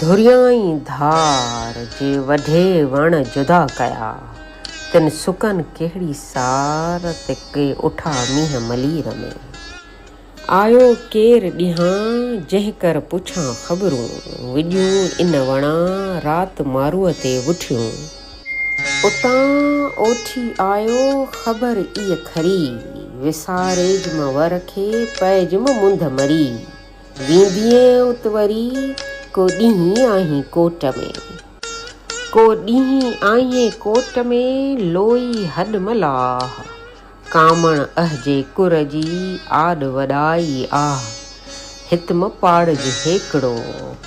ڌريائين ڌار جي وڍي وڻ جدا ڪيا. تن سڪن ڪهڙي سار تي ڪي اٺا مينهن ملير ۾. آيو ڪير ڏينهان جنهن ڪر پڇان خبرون. وڄيون ان وڻان رات ماروء تي وٺيون. اتان اوٺي آيو خبر اي کري. وساريجم ور کي پئجم منڌ مري. ويندينء ات وري ڪو ڏينهن آهين ڪوٽ ۾. ڪو ڏينهن آهين ڪوٽ ۾، لوئي هڏ ملاح. ڪامڻ اهجي ڪر جي، آڏ وڏائي آه. هت م پاڙج هيڪڙو،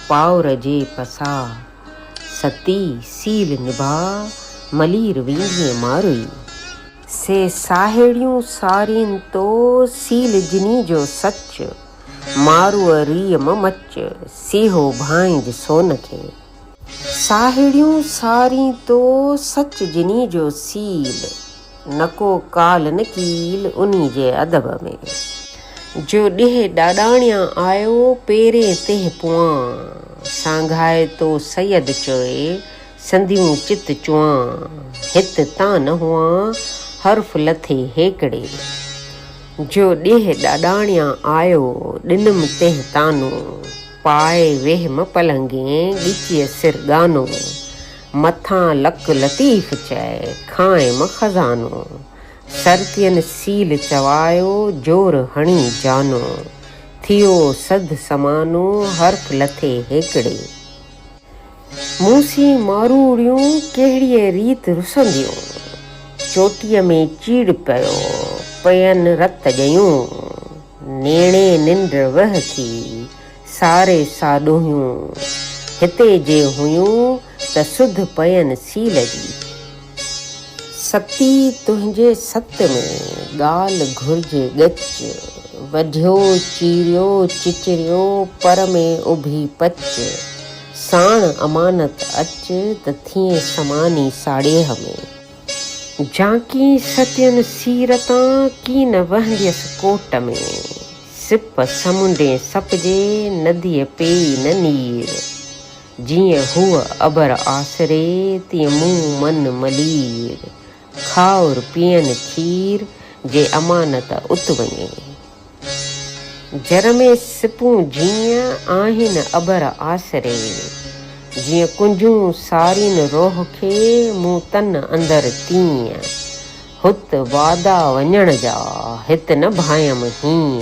پاور جي پساهه. ستي سيل نڀاء، ملير ويندينء ماروئي. سي ساهيڙيون سارين تو، سيل جني جو سچ. مارو ريء م مچ، سيهو ڀانئج سون کي. ساهيڙيون سارين تو، سچ جني جو سيل. نه ڪو ڪال نه ڪيل، انهي جي ادب ۾. جو ڏيهه ڏاڏاڻيان آيو، پيرين تنهن پوئان. سانگهائي تو سيد چوي، سنديون چت چوئان. هت تان نه هئان، حرف لٿي هيڪڙي. جو ڏيهه ڏاڏاڻيان آيو، ڏنم تنهن طعنو. پاء ويهيم پلنگين، ڳچيء سر ڳانو. مٿان لڪ لطيف چئي، کانئم خزانو. سرتين سيل چوايو، زور هڻي جانو. ٿيو سڌ سمانو، حرف لٿي هيڪڙي. مون سين ماروئڙيون ڪهڙيء ريت رسنديون. چوٽيء ۾ چيڙ پيو پئين رت ڳيون. نيڻي ننڊ وه ٿي ساري ساڏوهيون. هتي جي هيون ته سڌ پئين سيل جي. ستي تنهنجي ست ۾، ڳالهه گهرجي ڳچ. وڍيو چيريو چچريو، پر ۾ اڀي پچ. ساڻ امانت اچ، ته ٿئين سماني ساڙيهه ۾. جهانڪين ستين سير تان، ڪين وهنديس ڪوٽ ۾. سپ سمنڊين سپجي، نديء پيئي نه نير. جيئن هوء ابر آسري، تيئن مون من ملير. کائر پيئن کير، جي امانت ات وڃي. جر ۾ سپون جيئن، آهن ابر آسري. جيئن ڪنجهون سارين روح کي، مون تن اندر تيئن. هت وادا وڃڻ جا، هت نه ڀانيم هيئن.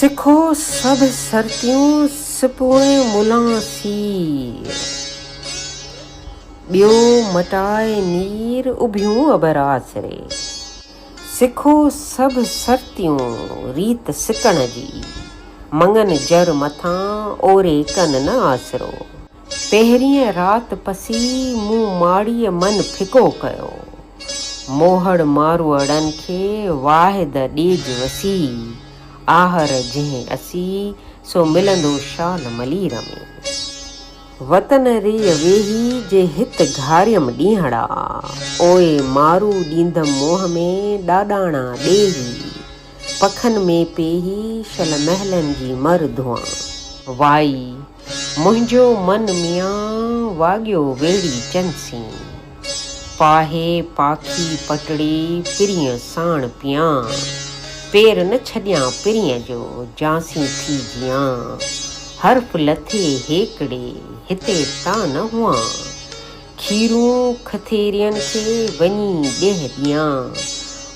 سکو سڀ سرتيون سپوڻ ملان سير. ٻيو مٽائي نير اڀيون ابر آسري. سکو سڀ سرتيون ريت سڪڻ جي. مڱن جر مٿان اوري ڪن نه آسرو. پهرينء رات پسي مون ماڙيء من ڦڪو ڪيو. موهڙ ماروئڙن کي واحد ڏيج وسي، آهر جنهن اسي، سو ملندو شال ملير ۾. وتن ريء ويهي جي هت گهاريم ڏينهڙا، اوء مارو ڏيندم موهه ۾ ڏاڏاڻا ڏيهي، پکن ۾ پيهي شل محلن جي مر ڌوئان. وائي منهنجو من ميان واڳيو ويڙهي چنسين. پاهي پاکي پٽڙي پرينء ساڻ پيان. پير نه ڇڏيان پرينء جو جانسين ٿي جيان. حرف لٿي هيڪڙي هتي تان نه هئان. کيرون کٿيرين کي وڃي ڏيهه ڏيان.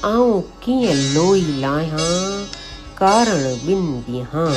آئون ڪيئن لوئي لاهيان ڪارڻ ٻن ڏينهان.